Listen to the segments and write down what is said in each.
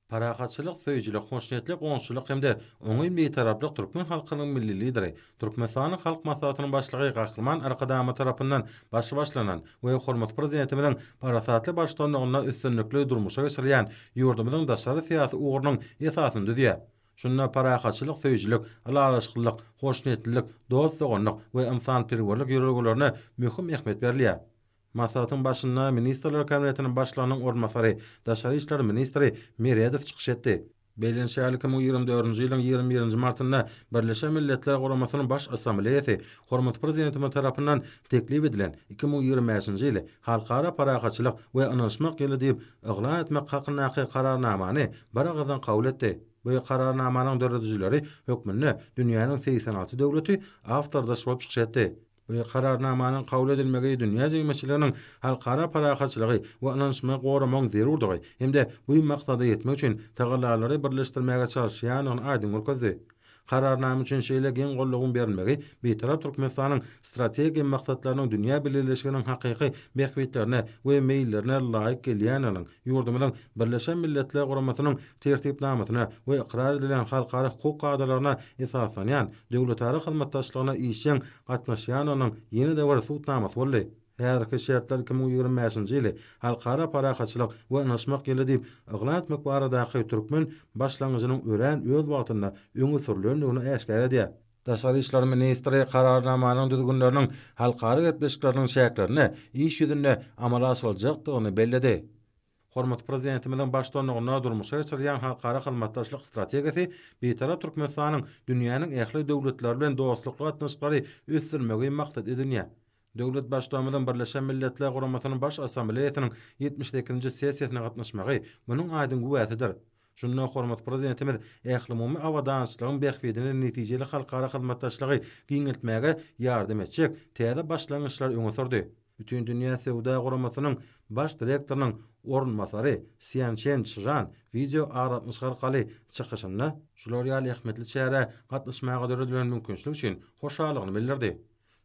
Parahatçylyk söýüjilik, hoşniýetli goňşuçylyk hem-de oňyn Bitaraplyk türkmen halkynyň Milli Lideri, Türkmenistanyň Halk Maslahatynyň Başlygy Gahryman Arkadagymyz tarapyndan başy başlanan we hormatly Prezidentimiziň parasatly baştutanlygynda üstünlikli durmuşa geçirilýän ýurdumyzyň daşary syýasy ugrunyň esasyny düzýär. Şunda parahatçylyk söýüjilik, ylalaşyklylyk, hoşniýetlilik, dost-doganlyk we ynsanperwerlik ýörelgelerine möhüm ähmiýet berilýär. Maslahatyň başynda Ministrler Kabinetiniň Başlygynyň orunbasary, daşary işler ministri Meredow çykyş etdi. Bellenişýärli iki müň ýigrimi dördünji ýylyň ýigrimi birinji martynda Birleşen Milletler Guramasynyň Baş Assambleýasy hormatly Prezidentimiz tarapyndan teklip edilen iki müň ýigrimi bäşinji ýyly Halkara parahatçylyk we ynanyşmak ýyly diýip yglan etmek hakyndaky Kararnamany biragyzdan kabul etdi. Bu Kararnamanyň döredijileri hökmünde dünýäniň segsen alty döwleti awtordaş bolup çykyş etdi. Bu Kararnamanyň kabul edilmegi dünýä jemgyýetçiliginiň halkara parahatçylygy we ynanyşmagy goramagyň zerurdygy hem-de bu maksada ýetmek üçin tagallalary birleşdirmäge çalyşýandygyny aýdyň görkezdi. Kararnama üçin şeýle giň goldawyň berilmegi Bitarap Türkmenistanyň strategiýa maksatlarynyň dünýä bileleşiginiň hakyky bähbitlerine we meýillerine laýyk gelýändiginiň, ýurdumyzyň Birleşen Milletler Guramasynyň Tertipnamasyna we ykrar edilen halkara hukuk kadalaryna esaslanýan döwletara hyzmatdaşlygyna işjeň gatnaşýandygynyň ýene-de bir subutnamasy boldy. Häzirki şertler iki müň ýigrimi bäşinji ýyly Halkara parahatçylyk we ynaşmak ýyly diýip yglan etmek baradaky türkmen başlangyjynyň örän öz wagtynda öňe sürülendigini äşgär edýär. Daşary işler ministri Kararnamanyň düzgünleriniň halkara gepleşikleriniň çäklerinde iş ýüzünde amala aşyryljakdygyny belledi. Hormatly Prezidentimiziň baştutanlygynda durmuşa geçirilýän halkara hyzmatdaşlyk strategiýasy Bitarap Türkmenistanyň dünýäniň ähli döwletleri bilen dostlukly gatnaşyklary ösdürmegi maksat edinýär. Döwlet Baştutanymyzyň Birleşen Milletler Guramasynyň Baş Assambleýasynyň ýetmiş sekizinji sessiýasyna gatnaşmagy munuň aýdyň güwäsidir. Şunda hormatly Prezidentimiz ählumumy abadançylygyň bähbidine netijeli halkara hyzmatdaşlygy giňeltmäge ýardam etjek täze başlangyçlary öňe sürdi. Bütindünýä söwda guramasynyň Baş direktorynyň orunbasary Sýançen Çžan wideoaragatnaşyk arkaly çykyşynda, şular ýaly ähmiýetli çärä gatnaşmaga döredilen mümkinçilik üçin hoşallygyny bildirdi.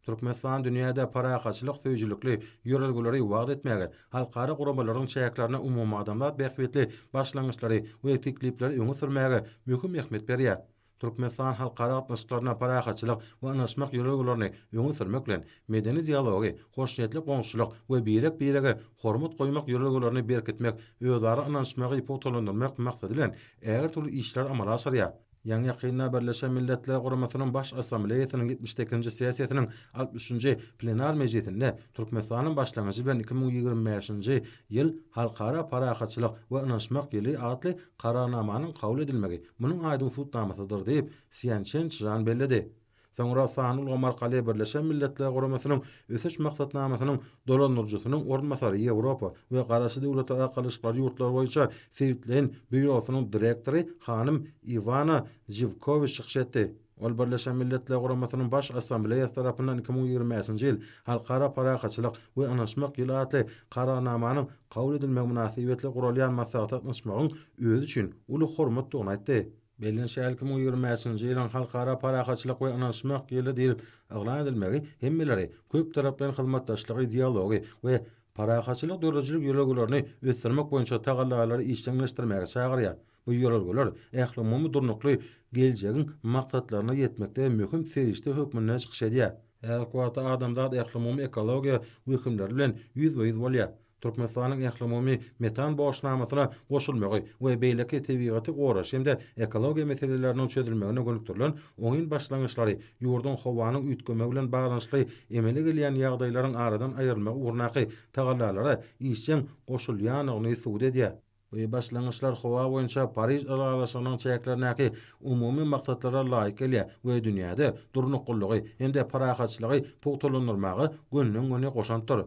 Türkmenistan dünýäde parahatçylyk söýüjilikli ýörelgeleri wagyz etmäge, halkara guramalaryň çäklerinde umumadamzat bähbitli başlangyçlary we teklipleri öňe sürmäge möhüm ähmiýet berýär. Türkmenistan halkara gatnaşyklarynda parahatçylyk we ynaşmak ýörelgelerini öňe sürmek bilen, medeni dialogy, hoşniýetli goňşuçylyk we birek-birege hormat goýmak ýörelgelerini berkitmek, özara ynanyşmagy pugtalandyrmak maksady bilen ägirt uly işleri amala aşyrýar. Ýaňy-ýakynda Birleşen Milletler Guramasynyň Baş Assambleýasynyň ýetmiş sekizinji sessiýasynyň altmyş üçünji plenar mejlisinde Türkmenistanyň başlangyjy bilen iki müň ýigrimi bäşinji ýyl Halkara parahatçylyk we ynanyşmak ýyly atly Kararnamanyň kabul edilmegi munuň aýdyň subutnamasydyr diýip, Sýan Çen Çžan belledi. Soňra sanly ulgam arkaly Birleşen Milletler Guramasynyň Ösüş maksatnamasynyň dolandyryjysynyň orunbasary, Ýewropa we Garaşsyz Döwletler Arkalaşyklary ýurtlary boýunça sebitleýin býurosynyň direktory hanym Iwana Žiwkowiç çykyş etdi. Ol Birleşen Milletler Guramasynyň Baş Assambleýasy tarapyndan iki müň ýigrimi bäşinji ýyl Halkara parahatçylyk we ynanyşmak ýyly atly Kararnamanyň kabul edilmegi mynasybetli guralýan maslahata gatnaşmagyň özi üçin uly hormatdygyny aýtdy. Belden şäl iki müň ýigrimi bäşinji ýylyň Halkara parahatçylyk we ynanyşmak ýyly diýlip yglan edilmegi hemmeleri köptaraplaýyn hyzmatdaşlygy, dialogy we parahatçylyk döredijilik ýörelgelerini ösdürmek boýunça tagallalary işjeňleşdirmäge çagyrýar. Bu ýörelgeler ählumumy durnukly geljegiň maksatlaryna ýetmekde möhüm serişde hökmünde çykyş edýär. Häzirki wagtda adamzat ählumumy ekologiýa wehimleri bilen ýüzbe-ýüz bolýar. Türkmenistanyň ählumumy metan borçnamasyna goşulmagy we beýleki tebigaty goraýyş hem-de ekologiýa meseleleriniň çözülmegine gönükdirilen oňyn başlangyçlary ýurduň howanyň üýtgemegi bilen baglanyşykly emele gelýän ýagdaýlaryň aradan aýrylmagy ugrundaky tagallalara işjeň goşulýandygyny subut edýär. Bu başlangyçlar howa boýunça Pariž ylalaşygynyň çäklerindäki umumy maksatlara laýyk gelýär we dünýäde durnuklylygy hem-de parahatçylygy pugtalandyrmaga gönden-göni goşantdyr.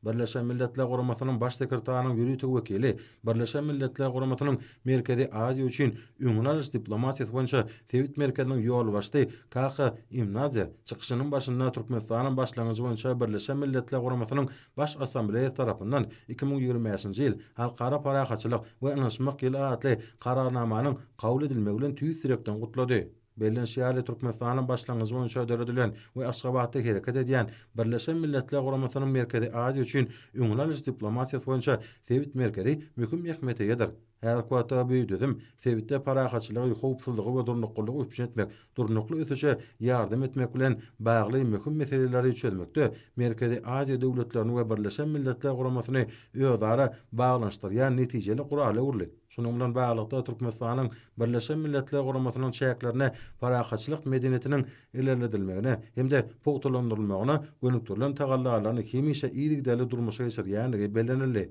Birleşen Milletler Guramasynyň Baş sekretarynyň ýörite wekili Birleşen Milletler Guramasynyň Merkezi Aziýa üçin öňüni alyş diplomatiýasy boýunça sebit merkeziniň ýolbaşçysy Kaka Imnadze çykyşynyň başynda Türkmenistanyň başlangyjy boýunça Birleşen Milletler Guramasynyň Baş Assambleýasy tarapyndan iki müň ýigrimi bäşinji ýyl Halkara parahatçylyk we ynanyşmak ýyly atly Kararnamanyň kabul edilmegi bilen tüýs ýürekden gutlady. Bellenişi ýaly, Türkmenistanyň başlangyjy boýunça döredilen we Aşgabatda hereket edýän Birleşen Milletler Guramasynyň Merkezi Aziýa üçin öňüni alyş diplomatiýasy boýunça sebit merkezi möhüm ähmiýete eýedir. Häzirki wagtda bu düzüm sebitde parahatçylygy, howpsuzlygy we durnuklylygy üpjün etmek, durnukly ösüşe ýardam etmek bilen bagly möhüm meseleleri çözmekde Merkezi Aziýa döwletlerini we Birleşen Milletler Guramasyny özara baglanyşdyrýan netijeli gurala öwrüli. Şunuň bilen baglylykda, Türkmenistanyň Birleşen Milletler Guramasynyň çäklerinde parahatçylyk medeniýetiniň ilerledilmegine hem-de pugtalandyrylmagyna gönükdirilen tagallalaryny hemişe yzygiderli durmuşa geçirýändigi bellenildi.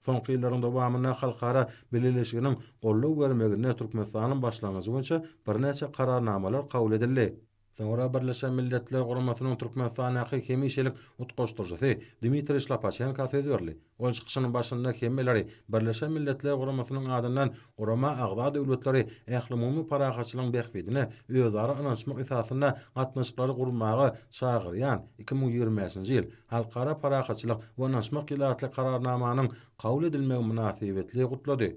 Soňky ýyllaryň dowamynda halkara bileleşiginiň goldaw bermeginde Türkmenistanyň başlangyjy boýunça birnäçe Kararnamalar kabul edildi. Soňra Birleşen Milletler Guramasynyň Türkmenistandaky hemişelik utgaşdyryjysy Dmitriý Şlapaçenka söz berdi. Ol çykyşynyň başynda hemmeleri Birleşen Milletler Guramasynyň adyndan gurama agza döwletleri ählumumy parahatçylygyň bähbidine özara ynanyşmak esasynda gatnaşyklary gurmaga çagyrýan iki müň ýigrimi bäşinji ýyl Halkara parahatçylyk we ynanyşmak ýyly atly Kararnamanyň kabul edilmegi mynasybetli gutlady.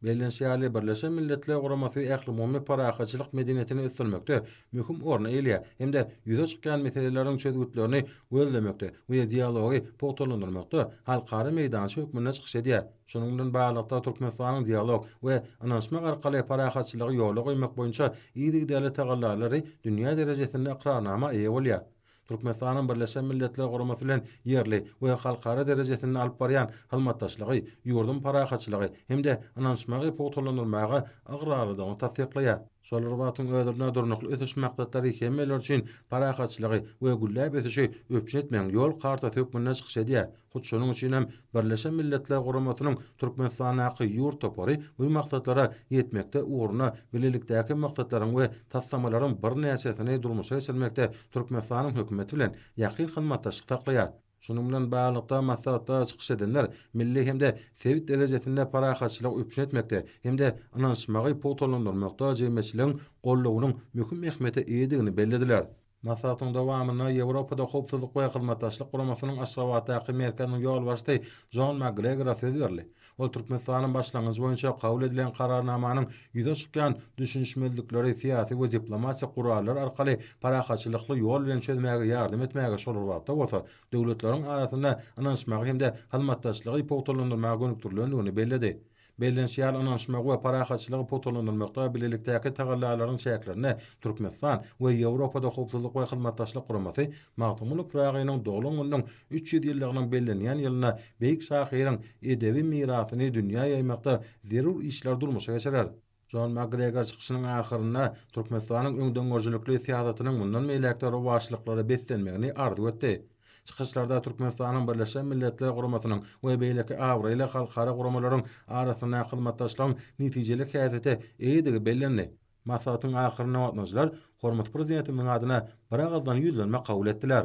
Bellenişi ýaly, Birleşen Milletler Guramasy ählumumy parahatçylyk medeniýetini ösdürmekde möhüm orny eýeleýär hem-de ýüze çykýan meseleleriň çözgütlerini gözlemekde we dialogy pugtalandyrmakda halkara meýdança hökmünde çykyş edýär. Şunuň bilen baglylykda, Türkmenistanyň dialog we ynanyşmak arkaly parahatçylygy ýola goýmak boýunça yzygiderli tagallalary dünýä derejesinde ykrarnama eýe bolýar. Türkmenistanyň Birleşen Milletler Guramasy bilen ýerli we halkara derejesinde alyp barýan hyzmatdaşlygy ýurduň parahatçylygy hem-de ynanyşmagy pugtalandyrmaga ygrarlydygyny tassyklaýar. Şol bir wagtyň özründe Durnukly ösüş maksatlary hemmeler üçin parahatçylygy we gülläp ösüşi üpjün etmegiň ýol kartasy hökmünde çykyş edýär. Hut şonuň üçin hem Birleşen Milletler Guramasynyň Türkmenistandaky ýurt topary bu maksatlara ýetmekde ugruna bilelikdäki maksatlaryň we taslamalaryň birnäçesini durmuşa geçirmekde Türkmenistanyň Hökümeti bilen ýakyn hyzmatdaşlyk saklaýar. Şunuň bilen baglylykda, maslahatda çykyş edenler milli hem-de sebit derejesinde parahatçylygy üpjün etmekde hem-de ynanyşmagy pugtalandyrmakda jemgyýetçiligiň goldawynyň möhüm ähmiýete eýedigini bellediler. Maslahatyň dowamynda Ýewropada Howpsuzlyk we Hyzmatdaşlyk Guramasynyň Aşgabatdaky merkeziniň ýolbaşçysy Jon MakGregora söz berildi. Ol Türkmenistanyň başlangyjy boýunça kabul edilen Kararnamanyň ýüze çykýan düşünişmezlikleri syýasy we diplomatik gurallar arkaly parahatçylykly ýol bilen çözmäge ýardam etmäge şol bir wagtda bolsa döwletleriň arasynda ynanyşmagy hem-de hyzmatdaşlygy pugtalandyrmaga gönükdirilendigini belledi. Bellenişi ýaly, ynanyşmagy we parahatçylygy pugtalandyrmakda bilelikdäki tagallalaryň çäklerinde Türkmenistan we Ýewropada Howpsuzlyk we Hyzmatdaşlyk Guramasy Magtymguly Pyragynyň doglan gününiň üç ýüz ýyllygynyň bellenýän ýylynda beýik şahyryň edebi mirasyny dünýä ýaýmakda zerur işleri durmuşa geçirer. Jon Makgregor çykyşynyň ahyrynda Türkmenistanyň öňdengörüjilikli syýasatynyň mundan beýläk-de rowaçlyklara beslenmegini arzuw etdi. Çykyşlarda Türkmenistanyň Birleşen Milletler Guramasynyň we beýleki abraýly halkara guramalaryň arasynda hyzmatdaşlygyň netijeli häsiýete eýedigi bellendi. Maslahatyň ahyrynda gatnaşyjylar hormatly Prezidentimiziň adyna biragyzdan ýüzlenme kabul etdiler.